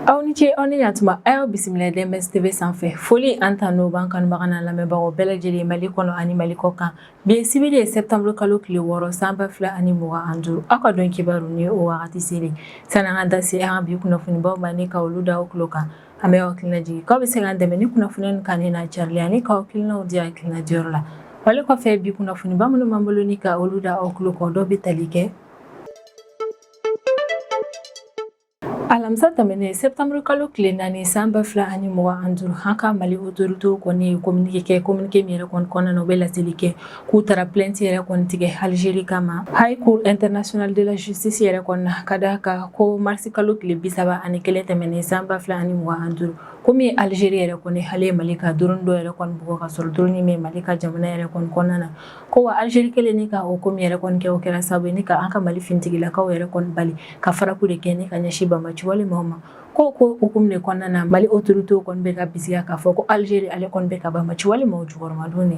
aw ni ce aw ni yantuma a y'aw bisimila DMS TV sanfɛ foli ani tanu b'an kanubaga n'an lamɛnbagaw bɛɛ lajɛlen mali kɔnɔ ani mali kɔ kan bi ye sibiri ye septembre kalo tile wɔɔrɔ san ba fila ani mugan an duuru aw ka don kibaru ni o wagati selen san'an ka da se an ka bi kunnafonibaw ma ni ka olu da aw tulo kan An b'aw hakili lajigin k'aw bɛ se k'an dɛmɛ ni kunnafoni ninnu kanuni n'a carili ani k'aw hakilinaw di hakilina diyɔrɔ la. Wale kɔfɛ bi kunnafoniba minnu b'an bolo ni ka olu da aw tulo kan dɔ bɛ tali kɛ Alamisa tɛmɛnen septembre kalo tile naani san ba fila ani mugan ani duuru an ka Mali autorités kɔni ye communiqué kɛ communiqué min yɛrɛ kɔni kɔnɔna na u bɛ laseli kɛ k'u taara plainte yɛrɛ kɔni tigɛ Algérie kama High Cour internationale de la justice yɛrɛ kɔni na ka d'a kan ko mars kalo tile bi saba ani kelen tɛmɛnen san ba fila ani mugan ani duuru komi Algérie yɛrɛ kɔni ale ye Mali ka drone dɔ yɛrɛ kɔni bugɔ ka sɔrɔ drone in bɛ Mali ka jamana yɛrɛ kɔni kɔnɔna na ko wa Algérie kɛlen ni ka o ko min yɛrɛ kɔni kɛ o kɛra sababu ye ni ka an ka Mali finitigilakaw yɛrɛ kɔni bali ka frappe de kɛ ni ka ɲɛsin banbaanci walemaw ma ko o hukumu de kɔnɔna na Mali autorités kɔni bɛ ka bisigiya k'a fɔ ko Algérie ale kɔni bɛ ka banbaanci walemaw jukɔrɔmadon de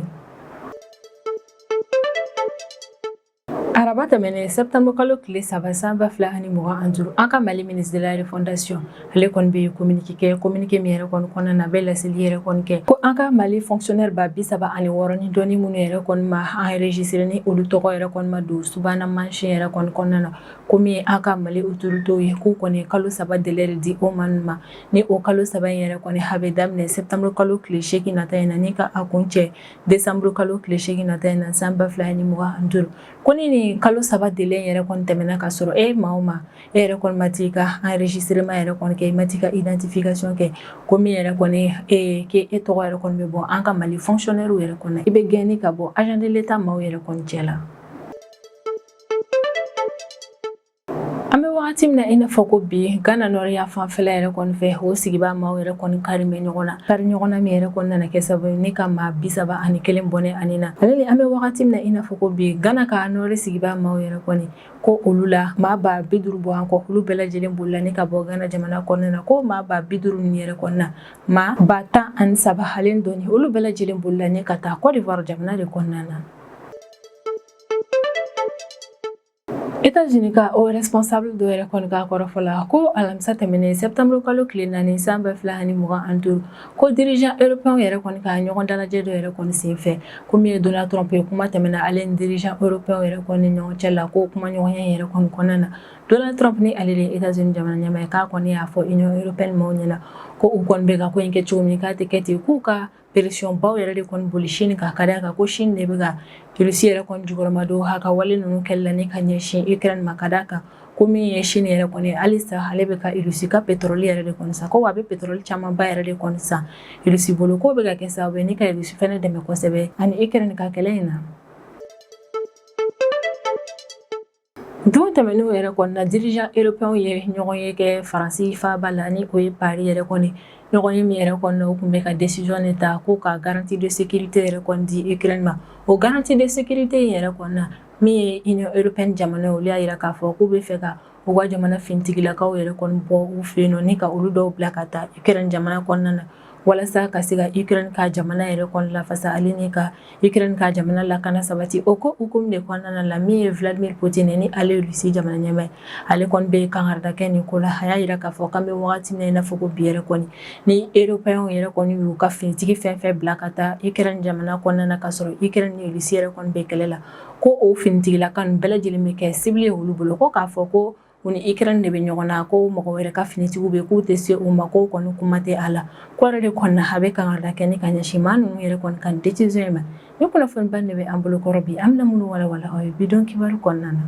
Araba tɛmɛnen septembre kalo tile saba san ba fila ani mugan ani duuru an ka Mali ministre de la refondation ale kɔni ye communiqué kɛ communiqué min yɛrɛ kɔni kɔnɔna na a bɛ laseli yɛrɛ kɔni kɛ ko an ka Mali fonctionnaire ba bi saba ani wɔɔrɔ ni dɔɔni minnu yɛrɛ kɔni ma enregistrer ni olu tɔgɔ yɛrɛ kɔni ma don subahana mansin yɛrɛ kɔni kɔnɔna na ko min ye an ka Mali autorités ye k'u kɔni ye kalo saba délai de di o maa ninnu ma ni o kalo saba in yɛrɛ kɔni a bɛ daminɛ septembre kalo tile seegin nata in na ni ka a kuncɛ décembre kalo tile seegin nata in na san ba fila ni mugan ni duuru ko ni kalo saba délai yɛrɛ kɔni tɛmɛna ka sɔrɔ e maa min e yɛrɛ kɔni ma t'i ka enregistrement yɛrɛ kɔni kɛ i ma t'i ka identification kɛ ko min yɛrɛ kɔni ee k'e e tɔgɔ yɛrɛ kɔni bɛ bɔ an ka mali fonctionnaires yɛrɛ kɔnɔ i bɛ gɛn ni ka bɔ agent de l'État maaw yɛrɛ kɔni cɛ la An bɛ wagati min na i n'a fɔ ko bi Gana nɔri yanfanfɛla yɛrɛ kɔni fɛ o sigibaa maaw yɛrɛ kɔni karilen bɛ ɲɔgɔn na kari ɲɔgɔn na min yɛrɛ kɔni nana kɛ sababu ye ni ka maa 31 bɔnɛ a ni na hali ni an bɛ wagati min na i n'a fɔ ko bi Gana ka nɔri sigibaa maaw yɛrɛ kɔni ko olu la maa ba 50 bɔɲɔgɔnko olu bɛɛ lajɛlen bolila ni ka bɔ Gana jamana kɔnɔna na ko maa ba 50 ninnu yɛrɛ kɔni na maa ba tan ani saba ani dɔɔni olu bɛɛ lajɛlen bolila ni ka taa Côte d'Ivoire jamana de kɔnɔna na Etats-Unis ka haut responsable dɔ yɛrɛ kɔni ka kɔrɔfɔ la ko alamisa tɛmɛnen septembre kalo tile naani san ba fila ani mugan ani duuru ko dirigeant européen yɛrɛ kɔni ka ɲɔgɔn dalajɛ dɔ yɛrɛ kɔni sen fɛ ko min ye Donald Trump ye kuma tɛmɛna ale ni dirigeant européen yɛrɛ kɔni ni ɲɔgɔn cɛ la ko kuma ɲɔgɔnya in yɛrɛ kɔni kɔnɔna na Donald Trump ni ale de ye Etats-Unis jamana ɲɛmaa ye k'a kɔni y'a fɔ Union européenne maaw ɲɛna ko u kɔni bɛ ka ko in kɛ cogo min k'a tɛ kɛ ten k'u ka Pression baw yɛrɛ de kɔni boli Chine kan ka d'a kan ko Chine de bɛ ka Russie yɛrɛ jukɔrɔmadon a ka wale ninnu kɛli la ni ka ɲɛsin Ukraine ma ka d'a kan ko min ye Chine yɛrɛ kɔni halisa ale bɛ ka Russie ka pétrole yɛrɛ de san ko a bɛ pétrole camanba yɛrɛ de kɔni san Russie bolo k'o bɛ ka kɛ sababu ye ni ka Russie fana dɛmɛ kosɛbɛ a ni Ukraine ka kɛlɛ in na Don tɛmɛnenw yɛrɛ kɔni na dirigeant européenw ye ɲɔgɔn ye kɛ Faransi faaba la ni o ye Paris yɛrɛ kɔni ɲɔgɔn ye min yɛrɛ kɔni na u tun bɛ ka décision de ta ko ka garantie de sécurité yɛrɛ kɔni di Ukraine ma o garantie de sécurité yɛrɛ kɔni na min ye Union européenne jamana olu y'a yira k'a fɔ k'u bɛ fɛ ka u ka jamana finitigilakaw yɛrɛ kɔni bɔ u fɛ yen nɔ ni ka olu dɔw bila ka taa Ukraine jamana kɔnɔna na walasa ka se ka Ukraine ka jamana yɛrɛ kɔni lafasa ale ni ka Ukraine ka jamana lakana sabati o ko hukumu de kɔnɔna la min ye Vladimir Poutine ni ale ye Russie jamana ɲɛmaa ye ale kɔni bɛ kangarida kɛ nin ko la a y'a yira k'a fɔ k'an bɛ waati min na i n'a fɔ ko bi yɛrɛ kɔni ni européenw yɛrɛ kɔni y'u ka finitigi fɛn fɛn bila ka taa Ukraine jamana kɔnɔna na ka sɔrɔ Ukraine ni Russie yɛrɛ kɔni bɛ kɛlɛ la ko o finitigilaka ninnu bɛɛ lajɛlen bɛ kɛ cible ye olu bolo ko k'a fɔ ko U ni Ukraine de bɛ ɲɔgɔn na ko mɔgɔ wɛrɛ ka finitigiw bɛ k'u tɛ se u ma ko kɔni kuma tɛ a la ko yɛrɛ de kɔni na a bɛ kangarida kɛ ni ka ɲɛsin maa ninnu yɛrɛ kɔni ka décision in ma nin kunnafoniba de bɛ an bolokɔrɔ bi an bɛna minnu walawala aw ye bi don kibaru kɔnɔna na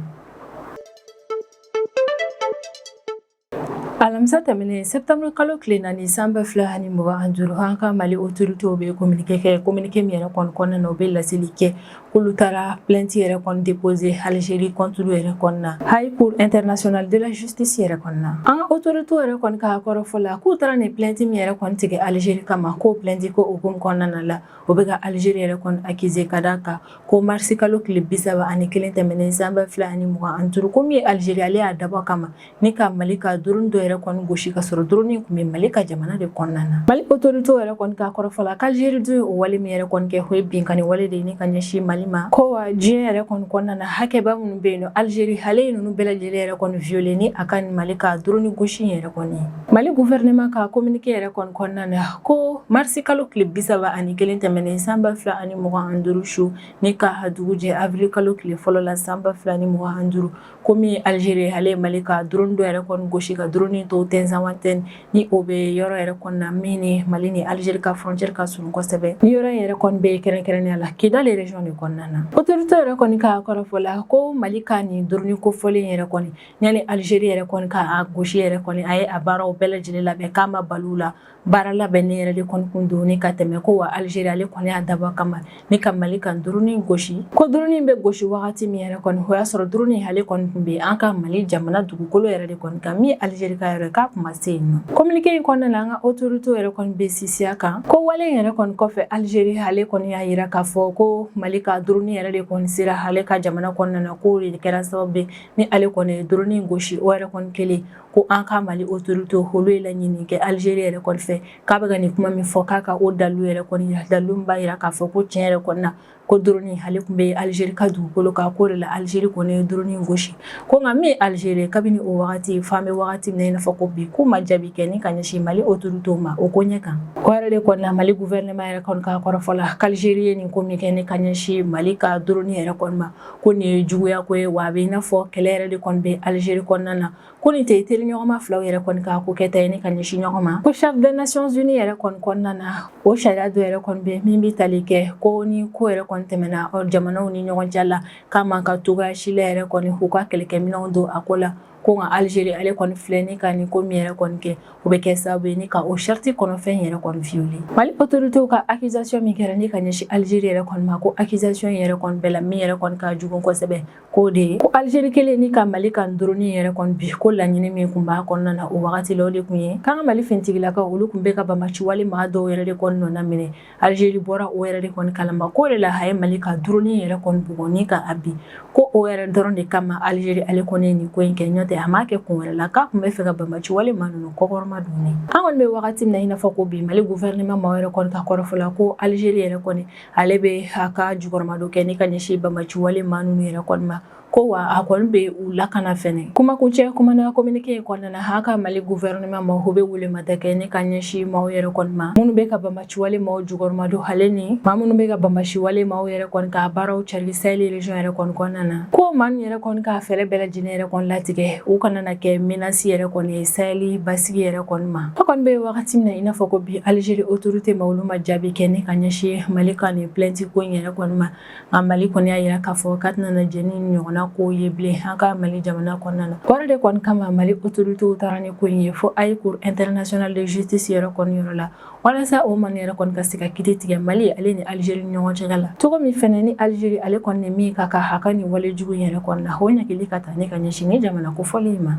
alamisa tɛmɛnen septembre kalo tile naani san ba fila ani mugan ani duuru an ka Mali autoritéw bɛ communiqué kɛ communiqué min yɛrɛ kɔni kɔnɔna na u bɛ laseli kɛ k'olu taara plainte yɛrɛ kɔni déposer Algérie contre yɛrɛ kɔni na High Cour internationale de la justice yɛrɛ kɔni na an ka autorités yɛrɛ kɔni ka kɔrɔfɔ la k'u taara nin plainte min yɛrɛ kɔni tigɛ Algérie kama k'o plainte ko o hukumu kɔnɔna na la o bɛ ka Algérie yɛrɛ kɔni accuser ka d'a kan ko mars kalo tile bisaba ani kelen tɛmɛnen san ba fila ani mugan ani duuru ko min ye Algérie ale y'a dabɔ a kama ni ka Mali ka drone dɔ yɛrɛ kɔni gosi ka sɔrɔ drone in tun bɛ Mali ka jamana de kɔnɔna na Mali autoritéw yɛrɛ kɔni ka kɔrɔfɔ la k'Algérie dun ye o wale min yɛrɛ kɔni kɛ o ye binkanni wale de ni ka ɲɛsin Mali ma ko wa diɲɛ yɛrɛ kɔni kɔnɔna na hakɛba minnu bɛ yen nɔ Algérie ale ye ninnu bɛɛ lajɛlen yɛrɛ kɔni violer ni a ka nin Mali ka drone in gosi yɛrɛ kɔni Mali gouvernement ka communiqué yɛrɛ kɔni kɔnɔna na ko marisi kalo tile bisaba ani kelen tɛmɛnen san ba fila ani mugan ani duuru su ni ka dugujɛ avril kalo tile fɔlɔ la san ba fila ni mugan ani duuru ko min Algérie ale ye Mali ka drone dɔ yɛrɛ kɔni gosi ka drone to Tinzaouatène ni o bɛ yɔrɔ yɛrɛ kɔni na min ni Mali ni Algérie ka frontière ka surun kosɛbɛ nin yɔrɔ yɛrɛ kɔni bɛ kɛrɛnkɛrɛnnenya la Kidal région de kɔnɔna na autoritéw yɛrɛ kɔni ka kɔrɔfɔ la ko Mali ka nin drone kofɔlen yɛrɛ kɔni yanni Algérie yɛrɛ kɔni k'a gosi yɛrɛ kɔni a ye a baaraw bɛɛ lajɛlen labɛn k'a ma balo la Baara labɛnnen yɛrɛ de kɔni kun don ni ka tɛmɛ ko wa alizeri ale kɔni y'a dabɔ kama ni ka mali ka drone gosi ko drone bɛ gosi wagati min yɛrɛ kɔni o y'a sɔrɔ drone ale kɔni tun bɛ an ka mali jamana dugukolo yɛrɛ de kɔni kan min alizeri yɛrɛ k'a kun ma se yen nɔ communiqué in kɔnɔna na an ka autorité yɛrɛ kɔni bɛ sinsin a kan k'o wale yɛrɛ kɔni kɔfɛ alizeri ale kɔni y'a jira k'a fɔ ko mali ka drone yɛrɛ de kɔni sera ale ka jamana kɔnɔna na k'o de kɛra sababu ye ni ale kɔni ye drone gosi o yɛrɛ kɔni kɛlen ko an ka mali autorité olu ye laɲini kɛ alizeri yɛrɛ kɔni fɛ k'a bɛ ka nin kuma min fɔ k'a ka o dalu yɛrɛ kɔni jira dalu b'a jira k'a fɔ ko tiɲɛ yɛrɛ kɔni na ko drone ale tun bɛ alizeri ka dugukolo kan k'o de la alizeri kɔni ye drone gosi ko nka min alizeri kabini o wagati f'an bɛ wagati min na i n'a fɔ ko bi k'u ma jaabi kɛ ni ka ɲɛsin mali autorité ma o koɲɛ kan o yɛrɛ de kɔni na mali gouvernement yɛrɛ ka kɔrɔfɔ la k'alizeri ye nin ko min kɛ ni ka ɲɛsin mali ka drone yɛrɛ kɔni ma ko nin ye juguya ko ye wa a bɛ i n'a fɔ kɛlɛ yɛrɛ de kɔni bɛ Algérie kɔnɔna na ko nin tɛ teriɲɔgɔnma filaw yɛrɛ kɔni ka ko kɛta ye ni ka ɲɛsin ɲɔgɔn ma ko charte des nations unies yɛrɛ kɔni kɔnɔna na o sariya dɔ yɛrɛ kɔni bɛ min bɛ tali kɛ ko ni ko yɛrɛ kɔni tɛmɛna jamanaw ni ɲɔgɔn cɛ la k'a man kan cogoya si la yɛrɛ kɔni k'u ka kɛlɛkɛminɛnw don a ko la ko nka alizeri ale kɔni filɛ ni ka nin ko min yɛrɛ kɔni kɛ o bɛ kɛ sababu ye ni ka o charte kɔnɔfɛn yɛrɛ kɔni violer mali autorités ka accusation min kɛra ni ka ɲɛsin alizeri yɛrɛ kɔni ma ko accusation yɛrɛ kɔni bɛɛ la min yɛrɛ kɔni ka jugu kosɛbɛ k'o de ye ko alizeri kɛlen ni ka mali ka drone yɛrɛ kɔni bin ko laɲini min tun b'a kɔnɔna na o wagati la o de tun ye k'an ka mali finitigilakaw olu tun bɛ ka banbaciwale maa dɔw yɛrɛ de kɔni nɔna minɛ Alizeri bɔra o yɛrɛ de kɔni kalama k'o de la a ye Mali ka drone yɛrɛ kɔni bugɔ ni ka a bin, ko o yɛrɛ dɔrɔn de kama Alizeri ale kɔni ye nin ko in kɛ n'o tɛ a m'a kɛ kun wɛrɛ la k'a tun b'a fɛ ka banbagaci wale maa ninnu kɔkɔrɔmadon, ni an kɔni bɛ wagati min na i n'a fɔ ko bi Mali gouvernement maaw yɛrɛ kɔni ka kɔrɔfɔ la ko Alizeri yɛrɛ kɔni ale bɛ a ka jukɔrɔmadon kɛ ni ka ɲɛsin banbagaci wale maa ninnu yɛrɛ kɔni ma. Ko wa a kɔni bɛ u lakana fɛnɛ kumakuncɛ kuma na communiqué in kɔnɔna na an ka Mali gouvernement maaw bɛ welemada kɛ ni ka ɲɛsin maaw yɛrɛ kɔni ma minnu bɛ ka banbaciwale maaw jukɔrɔmadon ale ni maa minnu bɛ ka banbaciwale maaw yɛrɛ kɔni ka baaraw cari saheli région yɛrɛ kɔni kɔnɔna na ko maa ninnu yɛrɛ kɔni ka fɛɛrɛ bɛɛ lajɛlen yɛrɛ kɔni latigɛ u kana na kɛ menace yɛrɛ kɔni ye saheli basigi yɛrɛ kɔni ma an kɔni bɛ wagati min na i n'a fɔ ko bi Algérie autorité maa olu ma jaabi kɛ ni ka ɲɛsin Mali ka nin plainte ko in yɛrɛ kɔni ma nka mali kɔni y'a jira k'a fɔ k'a tɛna na jɛn nin ɲɔgɔnna ko ye bilen an ka mali jamana kɔnɔna na o yɛrɛ de kɔni kama mali autorités taara ni ko in ye fo Haye Cour internationale de justice yɛrɛ kɔni yɔrɔ la walasa o maa ninnu yɛrɛ kɔni ka se ka kiti tigɛ mali ale ni alizeri ni ɲɔgɔn cɛ la cogo min fana ni alizeri ale kɔni ni min ka kan a ka nin walejugu yɛrɛ kɔni na o ɲangili ka ta ni ka ɲɛsin nin jamana kofɔlen in ma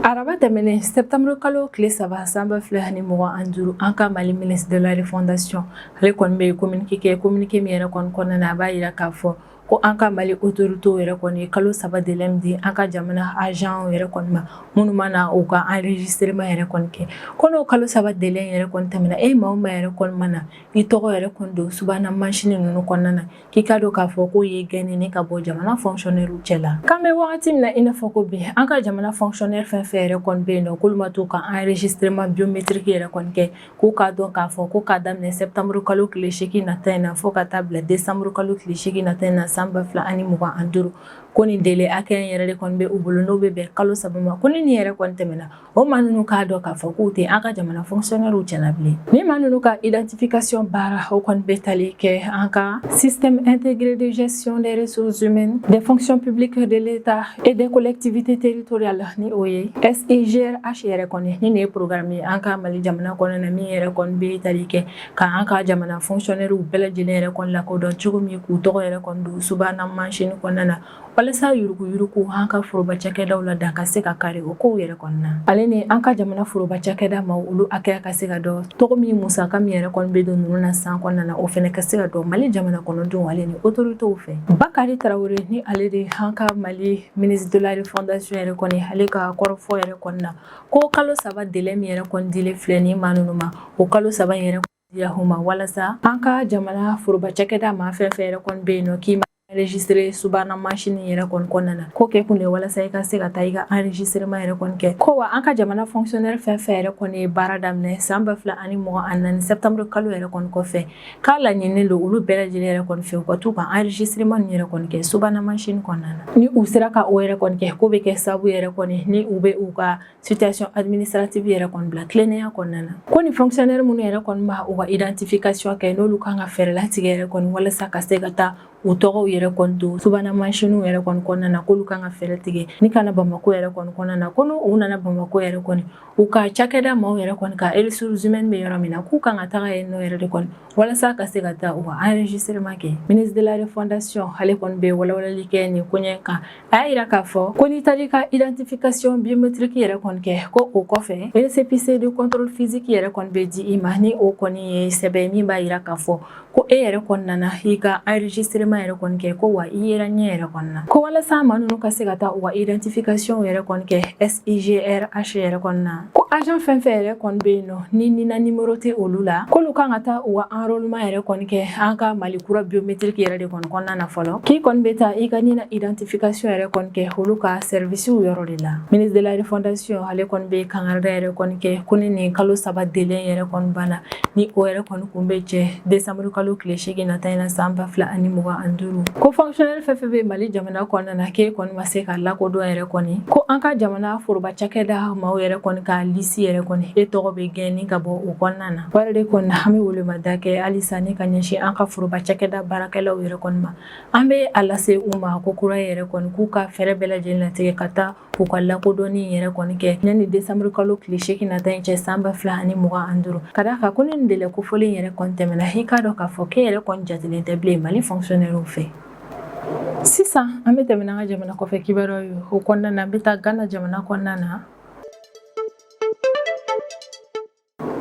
Araba tɛmɛnen septembre kalo tile saba san ba fila ni mugan ani duuru an ka mali ministre de la refondation ale kɔni bɛ ye communiqué kɛ communiqué min yɛrɛ kɔni kɔnɔna na a b'a jira k'a fɔ ko an ka mali autorités yɛrɛ kɔni ye kalo saba délai di an ka jamana agent yɛrɛ kɔni ma minnu ma na u ka enregistrement yɛrɛ kɔni kɛ ko kalo saba délai yɛrɛ kɔni tɛmɛna maa o maa yɛrɛ kɔni ma na i tɔgɔ yɛrɛ kɔni don subahana mansin ninnu kɔnɔna na k'i k'a dɔn k'a fɔ k'o ye gɛnni ka bɔ jamana fɔnkisɔnɛriw cɛ la k'an bɛ wagati min na i n'a fɔ ko bi an ka jamana fɔnkisɔnɛri fɛn fɛn yɛrɛ kɔni bɛ yen nɔ k'olu ma t'u ka enregistrement biométrique yɛrɛ kɔni kɛ k'u k'a dɔn k'a fɔ ko k'a daminɛ sɛptanburu kalo tile seegin nata in na fɔɔ ka taa bila desanburu kalo tile seegin nata in na san ba fila ani mugan ani duuru ko nin délai hakɛya in yɛrɛ de kɔni bɛ u bolo n'o bɛ bɛn kalo saba ma ko ni nin yɛrɛ kɔni tɛmɛna o maa ninnu k'a dɔn k'a fɔ k'u tɛ an ka jamana fɔnkisiyɔnɛriw cɛla bilen ni maa ninnu ka identification baara o kɔni bɛ tali kɛ an ka système intégré de gestion des ressources humaines des fonctions publiques de l'État et des collectivités territoriales ni o ye SIGRH yɛrɛ kɔni ni nin ye programme ye an ka Mali jamana kɔnɔ na min yɛrɛ kɔni bɛ tali kɛ ka an ka jamana fɔnkisiyɔnɛriw bɛɛ lajɛlen yɛrɛ kɔni lakodɔn cogo min k'u tɔgɔ yɛrɛ kɔni don subahana mansin kɔnɔna na walasa yuruguyurugu an ka foroba cakɛdaw la dan ka se ka kari o kow yɛrɛ kɔni na ale ni an ka jamana foroba cakɛda maa olu hakɛya ka se ka dɔn cogo min musaka min yɛrɛ kɔni bɛ don nunu na san kɔnɔna na o fɛnɛ ka se ka dɔn mali jamana kɔnɔdenw ale ni otoritew fɛ bakari tarawure ni ale de an ka mali ministre de la refondation yɛrɛ kɔni ale ka kɔrɔfɔ yɛrɛ kɔni na ko kalo saba délai min yɛrɛ kɔni dilen filɛ ni maa nunu ma o kalo saba yɛrɛ Yahuma walasa an ka jamana foroba cakɛda maa fɛn fɛn yɛrɛ kɔni bɛ yen nɔ k'i ma enregistré subahana mansin yɛrɛ kɔni kɔnɔna na k'o kɛ kun de walasa i ka se ka taa i ka enregistrement yɛrɛ kɔni kɛ ko wa an ka jamana fonctionnaire fɛn fɛn yɛrɛ kɔni ye baara daminɛ san ba fila ani mugan ani naani septembre kalo yɛrɛ kɔni kɔfɛ k'a laɲininen don olu bɛɛ lajɛlen yɛrɛ kɔni fɛ u ka t'u ka enregistrement yɛrɛ kɔni kɛ subahana mansin kɔnɔna na ni u sera ka o yɛrɛ kɔni kɛ k'o bɛ kɛ sababu yɛrɛ kɔni ni u bɛ u ka situation administrative yɛrɛ kɔni bila tilennenya kɔnɔna na ko ni fonctionnaire minnu yɛrɛ kɔni ma u ka identification kɛ n'olu kan ka fɛɛrɛ latigɛ yɛrɛ kɔni walasa ka se ka taa u tɔgɔw yɛrɛ kɔni don subahana mansinw yɛrɛ kɔni kɔnɔna na k'olu kan ka fɛɛrɛ tigɛ ni ka na bamako yɛrɛ kɔni kɔnɔna na ko n'u nana bamako yɛrɛ kɔni u ka cakɛda maaw yɛrɛ kɔni ka ressources humaines bɛ yɔrɔ min na k'u kan ka taga yen nɔ yɛrɛ de kɔni walasa ka se ka taa u ka enregistrement kɛ ministre de la refondation ale kɔni bɛ walawalali kɛ nin koɲɛ kan a y'a yira k'a fɔ ko n'i taar'i ka identification biométrique yɛrɛ kɔni kɛ ko o kɔfɛ récépissé de contrôle physique yɛrɛ kɔni bɛ di i ma ni o kɔni ye sɛbɛn min b'a yira k'a fɔ ko e yɛrɛ kɔni nana i ka enregistrement yɛrɛ kɔni kɛ ko wa i yera ɲɛ yɛrɛ kɔni na ko walasa maa ninnu ka se ka taa u ka identification yɛrɛ kɔni kɛ IGRH yɛrɛ kɔni na ko agent fɛn fɛn yɛrɛ kɔni bɛ yen nɔ ni NINA numéro tɛ olu la k'olu kan ka taa u ka enrôlement yɛrɛ kɔni kɛ an ka Mali kura biométrique yɛrɛ de kɔni kɔnɔna na fɔlɔ k'i kɔni bɛ taa i ka NINA identification yɛrɛ kɔni kɛ olu ka service yɔrɔ de la ministre de la refondation ale kɔni bɛ kangarida yɛrɛ kɔni kɛ ko ni nin kalo saba délai yɛrɛ kɔni banna ni o yɛrɛ kɔni kun bɛ cɛ desanburu kalo tile seegin nata in na san ba fila ani mugan ani duuru ko fonctionnaire fɛn fɛn bɛ mali jamana kɔnɔna na k'e kɔni ma se ka lakodɔn yɛrɛ kɔni ko an ka jamana foroba cakɛda maaw yɛrɛ kɔni ka lisi yɛrɛ kɔni e tɔgɔ bɛ gɛn ni ka bɔ o kɔnɔna na wale de kɔni na an bɛ welemada kɛ halisa ni ka ɲɛsin an ka foroba cakɛda baarakɛlaw yɛrɛ kɔni ma an bɛ a lase u ma ko kura yɛrɛ kɔni k'u ka fɛɛrɛ bɛɛ lajɛlen latigɛ ka taa k'u ka lakodɔnni in yɛrɛ kɔni kɛ yanni desanburu kalo tile seegin nata in cɛ san ba fila ani mugan ani duuru ka d'a kan ko ni nin délai kofɔlen in yɛrɛ kɔni tɛmɛna i k'a dɔn k'a fɔ k'e yɛrɛ kɔni jatelen tɛ bilen mali fɔnkisɔnɛriw fɛ sisan an bɛ tɛmɛ n'an ka jamana kɔfɛ kibaruyaw ye o kɔnɔna na an bɛ taa gana jamana kɔnɔna na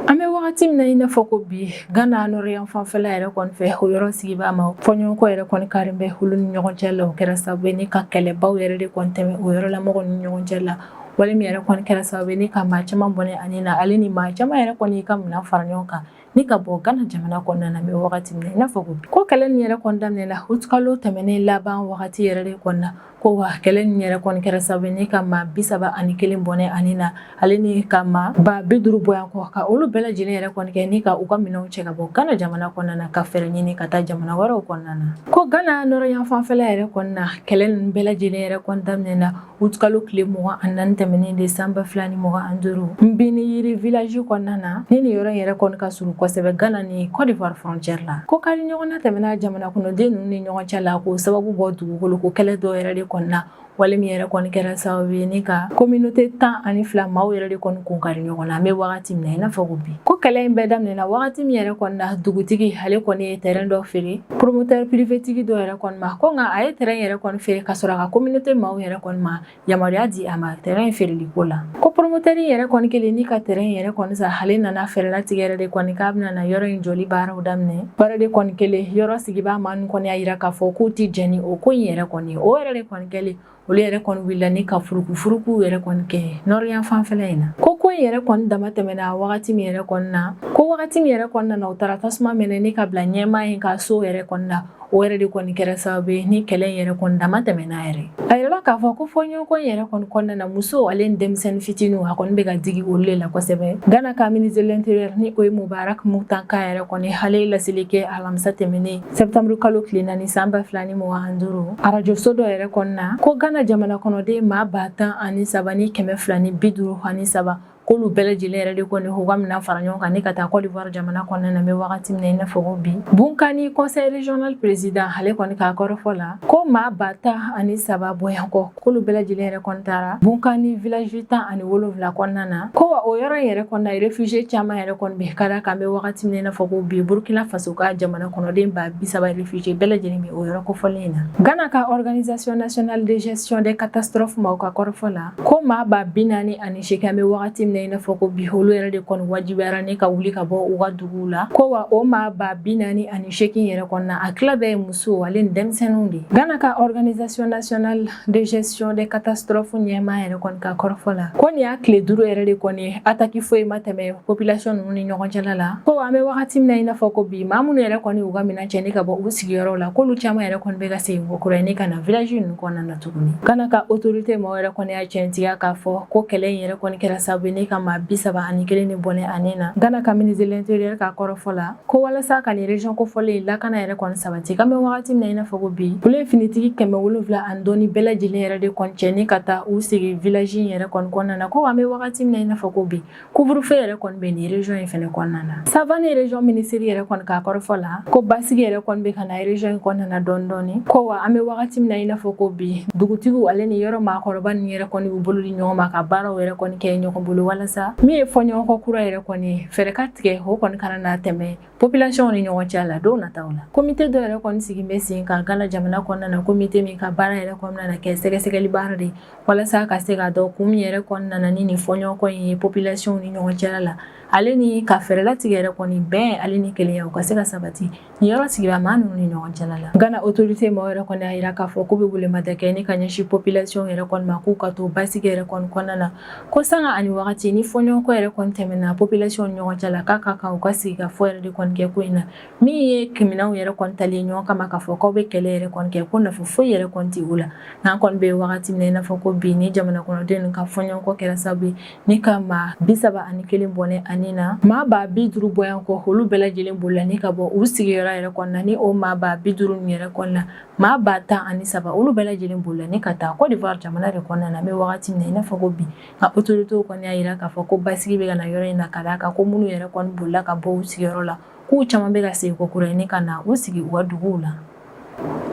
An bɛ wagati min na i n'a fɔ ko bi Gana nɔrɔ yanfanfɛla yɛrɛ kɔni fɛ o yɔrɔ sigibaa maa fɔɲɔgɔnkɔ yɛrɛ kɔni karilen bɛ olu ni ɲɔgɔn cɛ la o kɛra sababu ye ni ka kɛlɛbaw yɛrɛ de kɔni tɛmɛ o yɔrɔ la mɔgɔw ni ɲɔgɔn cɛ la wale min yɛrɛ kɔni kɛra sababu ye ni ka maa caman bɔnɛ a ni na ale ni maa caman yɛrɛ kɔni ka minɛn fara ɲɔgɔn kan ni ka bɔ Gana jamana kɔnɔna na an bɛ wagati min na i n'a fɔ ko bi ko kɛlɛ nin yɛrɛ kɔni daminɛna août kalo tɛmɛnen laban wagati yɛrɛ de kɔni na Ko wa kɛlɛ nin yɛrɛ kɔni kɛra sababu ni ka maa bi saba ani kelen bɔnɛ a ni na ale ni ka maa ba bi duuru bɔ yan kɔ ka olu bɛɛ lajɛlen yɛrɛ kɔni kɛ ni ka u ka minɛnw cɛ ka bɔ gana jamana kɔnɔna na ka fɛɛrɛ ɲini ka taa jamana wɛrɛw kɔnɔna na ko gana nɔrɔ yanfanfɛla yɛrɛ kɔni na kɛlɛ nin bɛɛ lajɛlen yɛrɛ kɔni daminɛna août kalo tile mugan ani naani tɛmɛnen de san ba fila ni mugan ani duuru Gbiniyiri village kɔnɔna na ni nin yɔrɔ yɛrɛ kɔni ka surun kosɛbɛ gana ni kɔdiwari frontière la ko kari ɲɔgɔnna tɛmɛna jamana kɔnɔden ninnu ni ɲɔgɔn cɛ la k'o sababu bɔ dugukolo ko kɛlɛ dɔ yɛrɛ de kɔni na wale min yɛrɛ kɔni kɛra sababu ye ni ka communauté tan ani fila maaw yɛrɛ de kɔni kun kari ɲɔgɔn na an bɛ wagati min na i n'a fɔ ko bi ko kɛlɛ in bɛɛ daminɛna wagati min yɛrɛ kɔni na dugutigi ale kɔni ye terrain dɔ feere promoteur privé tigi dɔ yɛrɛ kɔni ma ko nka a ye terrain yɛrɛ kɔni feere ka sɔrɔ a ka communauté maaw yɛrɛ kɔni ma yamaruya di a ma terrain feereli ko la ko promoteur yɛrɛ kɔni kɛlen ni ka terrain yɛrɛ kɔni san ale nana fɛɛrɛ latigɛ yɛrɛ de kɔni k'a bɛna na yɔrɔ in jɔli baaraw daminɛ baara de kɔni kɛlen yɔrɔ sigibaa maa ninnu kɔni y'a yira k'a fɔ k'u tɛ jɛn ni o ko in yɛrɛ kɔni ye o yɛrɛ de kɔni kɛlen olu yɛrɛ kɔni wulila ni ka furukufuruku yɛrɛ kɔni kɛ nɔrɔ yanfanfɛla in na ko ko in yɛrɛ kɔni damatɛmɛna wagati min yɛrɛ kɔni na ko wagati min yɛrɛ kɔnɔna na u taara tasuma mɛnɛ ni ka bila ɲɛmaa in ka so yɛrɛ kɔnɔna o yɛrɛ de kɔni kɛra sababu ye ni kɛlɛ in yɛrɛ kɔni dama tɛmɛna yɛrɛ a yirala k'a fɔ ko fɔɲɔgɔnkɔ in yɛrɛ kɔni kɔnɔna na musow ale ni denmisɛnnin fitiniw a kɔni bɛ ka digi olu le la kosɛbɛ Ghana ka ministre de l'intérieur ni o ye Mubarak Muntaka yɛrɛ kɔni ale laseli kɛ alamisa tɛmɛnen septembre kalo tile naani san ba fila ni mugan ani duuru arajo so dɔ yɛrɛ kɔnɔna ko Ghana jamana kɔnɔden maa ba tan ani saba ni kɛmɛ fila ni bi duuru ani saba k'olu bɛɛ lajɛlen yɛrɛ de kɔni u ka minɛn fara ɲɔgɔn kan ni ka taa Côte d'Ivoire jamana kɔnɔna na an bɛ wagati min na i n'a fɔ ko bi Bounkani conseil régional président ale kɔni ka kɔrɔfɔ la ko maa ba tan ani saba bɔɲɔgɔnko k'olu bɛɛ lajɛlen yɛrɛ kɔni taara Bounkani village tan ani wolonwula kɔnɔna na ko wa o yɔrɔ in yɛrɛ kɔnɔna réfugié caman yɛrɛ kɔni bɛ ka d'a kan an bɛ wagati min na i n'a fɔ ko bi Burkina Faso ka jamana kɔnɔden ba bi saba réfugié bɛɛ lajɛlen bɛ o yɔrɔ kofɔlen in na Ghana ka organisation nationale de gestion des catastrophes maaw ka kɔrɔfɔ la ko maa ba bi naani ani seegin an bɛ wagati min na i n'a fɔ ko bi olu yɛrɛ de kɔni wajibiyara ni ka wuli ka bɔ u ka duguw la ko wa o maa ba bi naani ani seegin yɛrɛ kɔnɔna a tila bɛɛ ye musow ale ni denmisɛnninw de ye Ghana ka organisation nationale de gestion des catastrophes ɲɛmaa yɛrɛ kɔni ka kɔrɔfɔ la ko nin y'a tile duuru yɛrɛ de kɔni ye ataki foyi ma tɛmɛ population ninnu ni ɲɔgɔn cɛla la ko an bɛ wagati min na i n'a fɔ ko bi maa minnu yɛrɛ kɔni u ka minɛn cɛ ni ka bɔ u sigiyɔrɔw la k'olu caman yɛrɛ kɔni bɛ ka segin ko kura ye ni ka na village ninnu kɔnɔna na tuguni Ghana ka autorité mɔgɔw yɛrɛ kɔni y'a tiɲɛtigiya k'a fɔ ko kɛlɛ in yɛrɛ kɔni kɛra sabu ye ni ka maa bi saba ani kelen ni bɔnɛ a ni na Ghana ka ministre de l'intérieur ka kɔrɔfɔ la ko walasa ka nin région kofɔlen lakana yɛrɛ kɔni sabati k'an bɛ wagati min na i n'a fɔ ko bi olu ye finitigi kɛmɛ wolonfila ani dɔɔni bɛɛ lajɛlen yɛrɛ de kɔni cɛ ni ka taa u sigi village in yɛrɛ kɔni kɔnɔna na ko an bɛ wagati min na i n'a fɔ ko bi couvre-feu yɛrɛ kɔni bɛ nin région in fɛnɛ kɔnɔna na Savane région ministère yɛrɛ kɔni ka kɔrɔfɔ la ko basigi yɛrɛ kɔni bɛ ka na région in kɔnɔna na dɔɔni dɔɔni ko wa an bɛ wagati min na i n'a fɔ ko bi dugutigiw ale ni yɔrɔ maakɔrɔba ninnu yɛrɛ kɔni b'u bolo di ɲɔgɔn ma ka baaraw yɛrɛ kɔni kɛ ɲɔgɔn bolo walasa min ye fɔɲɔgɔnkɔ kura yɛrɛ kɔni ye fɛɛrɛ ka tigɛ o kɔni kana na tɛmɛ Population ni ɲɔgɔn cɛ la don nataw la komite dɔ yɛrɛ kɔni sigi bɛ sen kan Ghana jamana kɔnɔna na komite min ka baara yɛrɛ kɔni na kɛ sɛgɛsɛgɛli baara de walasa ka se ka dɔn kun min yɛrɛ kɔni nana ni nin fɔɲɔgɔnkɔ in ye population ni ɲɔgɔn cɛ la ale ni ka fɛɛrɛ latigɛ yɛrɛ kɔni bɛn ale ni kelenya u ka se ka sabati nin yɔrɔ sigida maa ninnu ni ɲɔgɔn cɛ la Ghana autorité mɔgɔw yɛrɛ kɔni y'a jira k'a fɔ k'u bɛ welemada kɛ ni ka ɲɛsin population yɛrɛ kɔni ma k'u ka to basigi yɛrɛ kɔni kɔnɔna na Ko sanga ani wagati ni fɔɲɔgɔnkɔ yɛrɛ kɔni tɛmɛna population ni ɲɔgɔn cɛ la k'a ka kan u ka sigi ka fɔ yɛrɛ de kɔni kɛ ko in na min ye kɛlɛminɛnw yɛrɛ kɔni talen ɲɔgɔn kama k'a fɔ k'aw bɛ kɛlɛ yɛrɛ kɔni kɛ ko nafa foyi yɛrɛ kɔni tɛ o la n'an kɔni bɛ wagati min na i n'a fɔ ko bi ni jamana kɔnɔdenw ka fɔɲɔgɔnkɔ kɛra sababu ye ni ka maa bi saba ani kelen bɔnɛ a ni na maa ba bi duuru bɔɲɔgɔnko olu bɛɛ lajɛlen bolila ni ka bɔ u sigiyɔrɔ yɛrɛ kɔnɔna ni o maa ba bi duuru yɛrɛ kɔnɔna Maa ba tan ani saba olu bɛɛ lajɛlen bolila ni ka taa Côte d'Ivoire jamana de kɔnɔna na an bɛ wagati min na i n'a fɔ ko bi nka autorités kɔni y'a yira k'a fɔ ko basigi bɛ ka na yɔrɔ in na ka d'a kan ko minnu yɛrɛ kɔni bolila ka bɔ u sigiyɔrɔ la k'u caman bɛ ka segin ko kura ye ni ka na u sigi u ka duguw la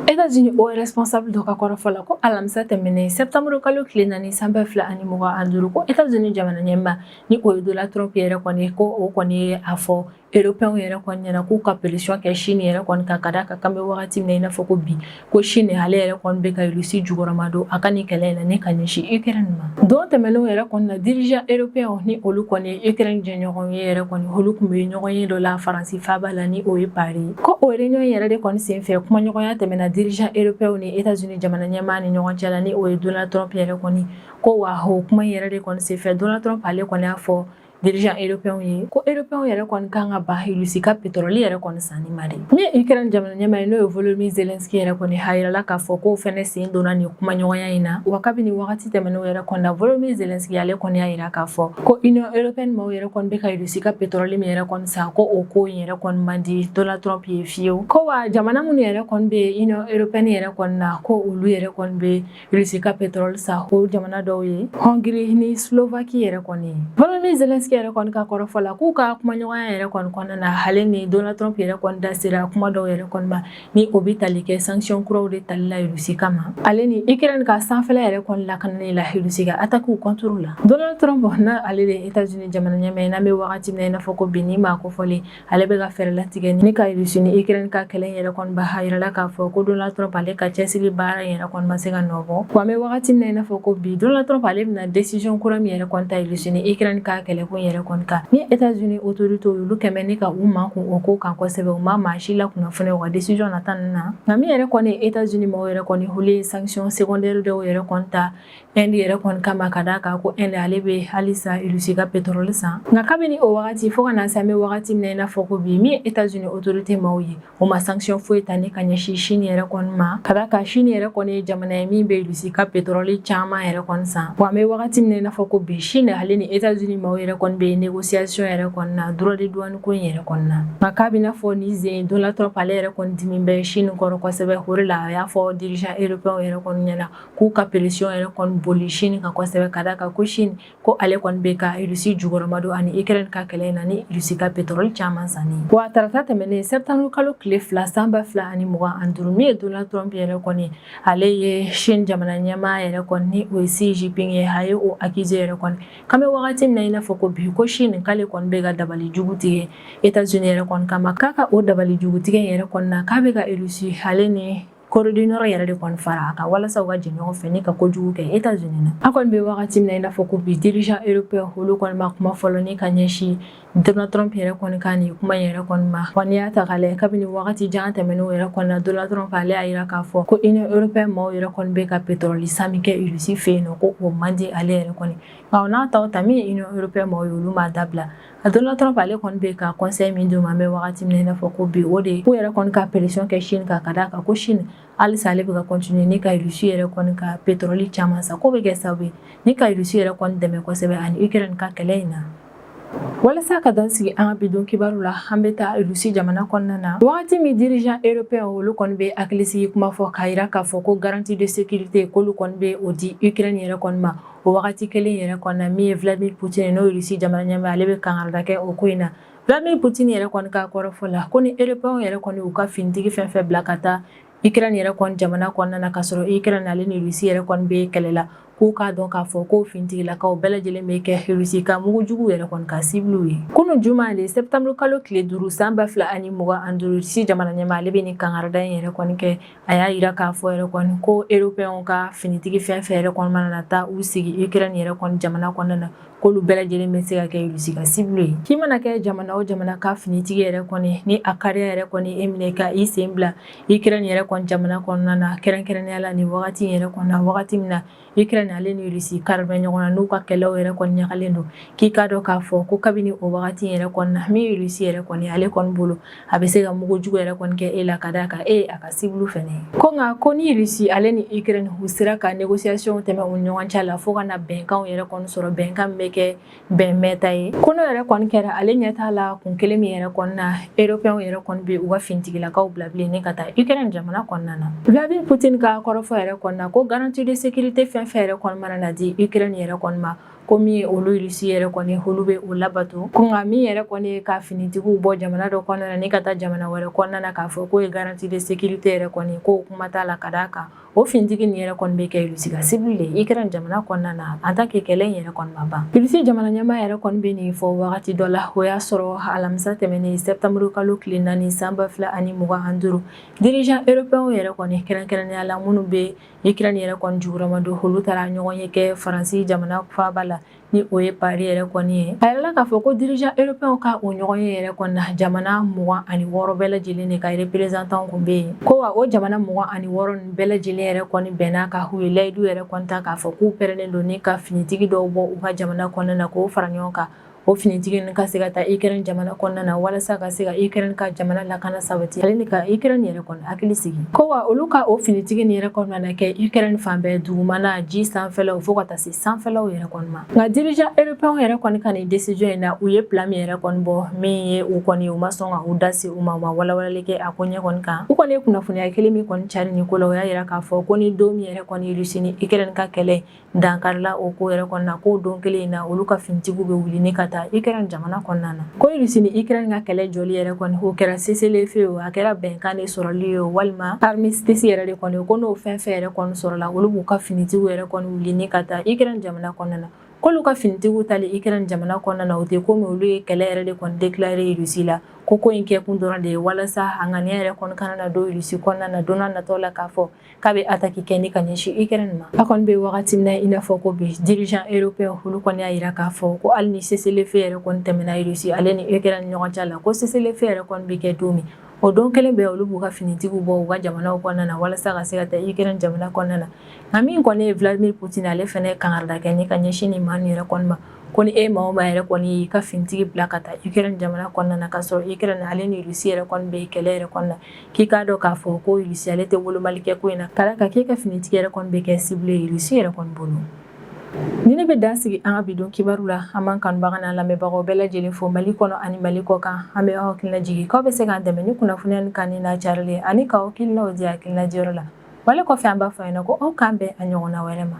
États-Unis o responsable dɔ ka kɔrɔfɔ la ko alamisa tɛmɛnen septembre kalo tile naani san ba fila ani mugan ani duuru ko États-Unis jamana ɲɛmaa ni o ye Donald Trump yɛrɛ kɔni ko o kɔni ye a fɔ Européens yɛrɛ kɔni ɲɛna k'u ka pression kɛ Chine yɛrɛ kɔni kan ka d'a kan k'an bɛ wagati min na i n'a fɔ ko bi, ko Chine ale yɛrɛ kɔni bɛ ka Russie jukɔrɔma don a ka nin kɛlɛ in na ni ka ɲɛsin Ukraine ma. Don tɛmɛnenw yɛrɛ kɔni na dirigeants européens ni olu kɔni ye Ukraine jɛɲɔgɔnw ye yɛrɛ kɔni, olu tun bɛ ɲɔgɔn ye dɔ la Faransi faaba la ni o ye Paris. Ko o réunion in yɛrɛ de kɔni senfɛ kumaɲɔgɔnya tɛmɛna dirigeants européens ni Etats-Unis jamana ɲɛmaa ni ɲɔgɔn cɛ la ni o ye Donald Trump yɛrɛ kɔni ko wa o kuma in yɛrɛ de kɔni senfɛ Donald Trump ale kɔni y'a fɔ dirigeants européens ye ko européens yɛrɛ kɔni ka kan ka ban Russie ka pétrole yɛrɛ kɔni sanni ma de min ye Ukraine jamana ɲɛmaa ye n'o ye Volodymyr Zelensky yɛrɛ kɔni a yirala k'a fɔ k'o fɛnɛ sen donna nin kumaɲɔgɔnya in na wa kabini wagati tɛmɛnenw yɛrɛ kɔni na Volodymyr Zelensky ale kɔni y'a yira k'a fɔ ko Union européenne maaw yɛrɛ kɔni bɛ ka Russie ka pétrole min yɛrɛ kɔni san ko o ko in yɛrɛ kɔni man di Donald Trump ye fiyewu ko wa jamana minnu yɛrɛ kɔni bɛ Union européenne yɛrɛ kɔni na ko olu yɛrɛ kɔni bɛ Russie ka pétrole san o jamana dɔw ye Hongrie ni Slovaquie yɛrɛ kɔni ye volodymyr zelensky yɛrɛ kɔni ka kɔrɔfɔ la k'u ka kumaɲɔgɔnya yɛrɛ kɔni kɔnɔna na ale ni donald trump yɛrɛ kɔni da sera kuma dɔw yɛrɛ kɔni ma ni o bɛ tali kɛ sanction kuraw de tali la Russie kama ale ni ukraine ka sanfɛla yɛrɛ kɔni lakanani la Russie ka attaques contre la donald trump na ale de etats-unis jamana ɲɛmaa ye n'an bɛ wagati min na i n'a fɔ ko bi ni maa kofɔlen ale bɛ ka fɛɛrɛ latigɛ ni ka Russie ni Ukraine ka kɛlɛ in yɛrɛ kɔni ban a yirala k'a fɔ ko Donald Trump ale ka cɛsiri baara in yɛrɛ kɔni ma se ka nɔ bɔ wa an bɛ wagati min na i n'a fɔ ko bi Donald Trump ale bɛna décision kura min yɛrɛ kɔni ta Russie ni Ukraine ka kɛlɛ ko in yɛrɛ kɔni kan ni États-Unis autorités olu kɛ bɛ ni ka u makun o ko kan kosɛbɛ u ma maa si lakunnafoni u ka décision nata ninnu na nka min yɛrɛ kɔni ye États-Unis maaw yɛrɛ kɔni olu ye sanction secondaire dɔw yɛrɛ kɔni ta Inde yɛrɛ kɔni kama ka d'a kan ko Inde ale bɛ halisa Russie ka pétrole san nka kabini o wagati fo ka na se an bɛ wagati min na i n'a fɔ ko bi min ye États-Unis autorités maaw ye o ma sanction foyi ta ni ka ɲɛsin Chine yɛrɛ kɔni ma ka d'a kan Chine yɛrɛ kɔni ye jamana ye min bɛ Russie ka pétrole caman yɛrɛ kɔni san wa an bɛ wagati min na i n'a fɔ ko bi Chine ale ni États-Unis maaw yɛrɛ kɔni bɛ négociation yɛrɛ kɔni na droit de douane ko in yɛrɛ kɔni na nka k'a bɛ i n'a fɔ ni ze Donald Trump ale yɛrɛ kɔni dimi bɛ Chine kɔrɔ kosɛbɛ o de la a y'a fɔ dirigeants européens yɛrɛ kɔni ɲɛna k'u ka pression yɛrɛ kɔni boli Chine kan kosɛbɛ ka d'a kan ko Chine ko ale kɔni bɛ ka Russie jukɔrɔma don a ni Ukraine ka kɛlɛ in na ni Russie ka pétrole caman sanni ye. Wa tarata tɛmɛnen septembre kalo tile fila san ba fila ani mugan ani duuru min ye Donald Trump yɛrɛ kɔni ale ye Chine jamana ɲɛmaa yɛrɛ kɔni ni o ye Xi Jinping ye a ye o accuser yɛrɛ kɔni k'an bɛ wagati min na i n'a fɔ ko bi ko Chine k'ale kɔni bɛ ka dabali jugu tigɛ Etats-Unis yɛrɛ kɔni kama k'a ka o dabali jugu tigɛ in yɛrɛ kɔni na k'a bɛ ka Russie ale ni corée du nord yɛrɛ de kɔni fara a kan walasa u ka jɛ ɲɔgɔn fɛ ni ka kojugu kɛ états-unis na a kɔni bɛ wagati min na i n'a fɔ ko bi dirigeant européen olu kɔni ma kuma fɔlɔ ni ka ɲɛsin donald trump yɛrɛ kɔni ka nin kuma yɛrɛ kɔni ma wa n'i y'a ta k'a lajɛ kabini wagati jan tɛmɛnenw yɛrɛ kɔni na donald trump ale y'a yira k'a fɔ ko union européen maaw yɛrɛ kɔni bɛ ka petrɔli san min kɛ irisi fɛ yen nɔ ko o man di ale yɛrɛ kɔni nka o n'a ta o ta min ye union européen maaw ye olu m'a dabila donald trump ale kɔni bɛ ka conseil min d'u ma an bɛ waati min na i n'a fɔ ko bi o de k'u yɛrɛ kɔni ka pression kɛ chine kan ka d'a kan ko chine halisa ale bɛ ka continuer ni ka rusi yɛrɛ kɔni ka pétrole caman san k'o bɛ kɛ sababu ye ni ka rusi yɛrɛ kɔni dɛmɛ kosɛbɛ ani ukraine ka kɛlɛ in na walasa ka dan sigi an ka bidon kibaru la an bɛ taa rusi jamana kɔnɔna na wagati min dirigeant européen olu kɔni bɛ hakilisigi kuma fɔ k'a jira k'a fɔ ko garantie de sécurité k'olu kɔni bɛ o di ukraine yɛrɛ kɔni ma O wagati kelen yɛrɛ kɔni na min ye Vladimir Poutine n'o ye Russie jamana ɲɛmaa ale bɛ kangarida kɛ o ko in na Vladimir Poutine yɛrɛ kɔni ka kɔrɔfɔ la ko ni Européens yɛrɛ kɔni y'u ka finitigi fɛn fɛn bila ka taa Ukraine yɛrɛ kɔni jamana kɔnɔna na ka sɔrɔ Ukraine ale ni Russie yɛrɛ kɔni bɛ kɛlɛ la k'u k'a dɔn k'a fɔ ko finitigilakaw bɛɛ lajɛlen bɛ kɛ Russie ka mugu juguw yɛrɛ kɔni ka cible ye. Kunun juma le septembre kalo tile duuru san ba fila ani mugan ani duuru Russie jamana ɲɛmaa ale bɛ nin kangarida in yɛrɛ kɔni kɛ A y'a yira k'a fɔ yɛrɛ kɔni ko eropɛnw ka finitigi fɛn fɛn yɛrɛ kɔni mana na taa u sigi Ukraine yɛrɛ kɔni jamana kɔnɔna na k'olu bɛɛ lajɛlen bɛ se ka kɛ Russie ka cible ye k'i mana kɛ jamana o jamana ka finitigi yɛrɛ kɔni ni a kari yɛrɛ kɔni e minɛ ka i sen bila Ukraine yɛrɛ kɔni jamana kɔnɔna na kɛrɛnkɛrɛnnenya la ni wagati yɛrɛ kɔnɔ na wagati min na Ukraine ale ni Russie kari bɛ ɲɔgɔn na n'u ka kɛlɛw yɛrɛ kɔni ɲagalen don k'i k'a dɔn k'a fɔ ko kabini o wagati yɛrɛ kɔnɔ na min ye Russie yɛrɛ kɔni ale kɔni bolo a bɛ se ka mugu jugu yɛrɛ kɔni kɛ e la ka d'a kan e ye a ka cible fɛnɛ ye ko nka ko ni Russie ale ni Ukraine u sera ka négociation tɛmɛ u ɲɔgɔn cɛ la fo ka na bɛnkanw yɛrɛ kɔni sɔrɔ bɛnkan min bɛ kɛ bɛn mɛɛnta ye ko n'o yɛrɛ kɔni kɛra ale ɲɛ t'a la kun kelen min yɛrɛ kɔni na eropɛnw yɛrɛ kɔni bɛ u ka finitigilakaw bila bilen ni ka taa ukraine jamana kɔnɔna na vladimir poutine ka kɔrɔfɔ yɛrɛ kɔni na ko garantie de sécurité fɛn fɛn yɛrɛ kɔni mana na di ukraine yɛrɛ kɔni ma ko min ye olu irisi yɛrɛ kɔni olu bɛ o labato ko nka min yɛrɛ kɔni ye ka finitigiw bɔ jamana dɔ kɔnɔna na ni ka taa jamana wɛrɛ kɔnɔna na k'a fɔ k'o ye garantie de sécurité yɛrɛ kɔni ye k'o kuma t'a la ka d'a kan o fintigi nin yɛrɛ kɔni bɛ kɛ Irisi ka cible de ye Ikɛrɛn jamana kɔnɔna na en tant que kɛlɛ in yɛrɛ kɔni ma ban Irisi jamana ɲɛmaa yɛrɛ kɔni bɛ nin fɔ wagati dɔ la o y'a sɔrɔ alamisa tɛmɛnen sɛptanburu kalo tile naani san ba fila ani mugan ani duuru dirigeant eropɛnw yɛrɛ kɔni kɛrɛnkɛrɛnnenya la minnu bɛ Ikɛrɛn yɛrɛ kɔni jukɔrɔmadon olu taara ɲɔgɔn ye kɛ Faransi jamana faaba la ni o ye Paris yɛrɛ kɔni ye a yirala k'a fɔ ko dirigeant européenw ka o ɲɔgɔn ye yɛrɛ kɔni na jamana mugan ani wɔɔrɔ bɛɛ lajɛlen de ka représentantw kun bɛ yen ko wa o jamana mugan ani wɔɔrɔ nin bɛɛ lajɛlen yɛrɛ kɔni bɛnna ka u ye layidu yɛrɛ kɔni ta k'a fɔ k'u pɛrɛlen don ni ka finitigi dɔw bɔ u ka jamana kɔnɔna na k'o fara ɲɔgɔn kan o finitigi ninnu ka se ka taa Ukraine jamana kɔnɔna na walasa ka se ka Ukraine ka jamana lakana sabati ale ni ka Ukraine yɛrɛ kɔni hakili sigi ko wa olu ka o finitigi nin yɛrɛ kɔnɔna na kɛ Ukraine fan bɛɛ dugumana ji sanfɛlaw fo ka taa se sanfɛlaw yɛrɛ kɔni ma nka dirigeant européen yɛrɛ kɔni ka nin décision in na u ye plan min yɛrɛ kɔni bɔ min ye u kɔni u ma sɔn ka u da se u ma u ma walawalali kɛ a ko ɲɛ kɔni kan u kɔni ye kunnafoniya kelen min kɔni cari nin ko la o y'a yira k'a fɔ ko ni don min yɛrɛ kɔni Russie ni Ukraine ka kɛlɛ dankarila o ko yɛrɛ kɔni na k'o don kelen in na olu ka finitigiw bɛ wuli ni ka taa Ukraine jamana kɔnɔna na ko Russie ni Ukraine ka kɛlɛ jɔli yɛrɛ kɔni o kɛra cessez-le-feu o a kɛra bɛnkan de sɔrɔli ye walima armistice yɛrɛ de kɔni ko n'o fɛn fɛn yɛrɛ kɔni sɔrɔla olu b'u ka finitigiw yɛrɛ kɔni wuli ni ka taa Ukraine jamana kɔnɔna na k'olu ka finitigiw taali Ukraine jamana kɔnɔna na o tɛ ko olu ye kɛlɛ yɛrɛ de kɔni déclaré Russie la ko ko in kɛ kun dɔrɔn de ye walasa a ŋaniya yɛrɛ kɔni kana na don Russie kɔnɔna na don nataw la k'a fɔ k'a bɛ attaque kɛ ni ka ɲɛsin Ukraine ma an kɔni bɛ wagati min na i n'a fɔ ko bi dirigeant européen olu kɔni y'a yira k'a fɔ ko hali ni cessez-le-feu yɛrɛ kɔni tɛmɛna Russie ale ni Ukraine ni ɲɔgɔn cɛ la ko cessez-le-feu yɛrɛ kɔni bɛ kɛ don min o don kelen bɛɛ olu b'u ka finitigiw bɔ u ka jamana kɔnɔna na walasa ka se ka taa Ukraine jamana kɔnɔna na nka min kɔni ye Vladimir Poutine ale fana ye kangarida kɛ ni ka ɲɛsin nin maa ninnu yɛrɛ kɔni ma ko ni e maa o maa yɛrɛ kɔni y'i ka finitigi bila ka taa Ukraine jamana kɔnɔna na k'a sɔrɔ Ukraine ale ni Russie yɛrɛ kɔni bɛ kɛlɛ yɛrɛ kɔnɔna na k'i k'a dɔn k'a fɔ ko Russie ale tɛ wolomali kɛ ko in na ka d'a kan k'e ka finitigi yɛrɛ kɔni bɛ kɛ cible ye Russie yɛrɛ kɔni bolo. Ni ne bɛ dan sigi an ka bidon kibaru la an b'an kanubaga n'an lamɛnbagaw bɛɛ lajɛlen fo Mali kɔnɔ ani Mali kɔ kan an bɛ aw hakilina jigin k'aw bɛ se k'an dɛmɛ ni kunnafoniya nin kanuni n'a carili ye ani k'aw hakilinaw di hakilina diyɔrɔ la. Wale kɔfɛ an b'a fɔ aw ɲɛna ko aw k'an bɛn a ɲɔgɔnna wɛrɛ ma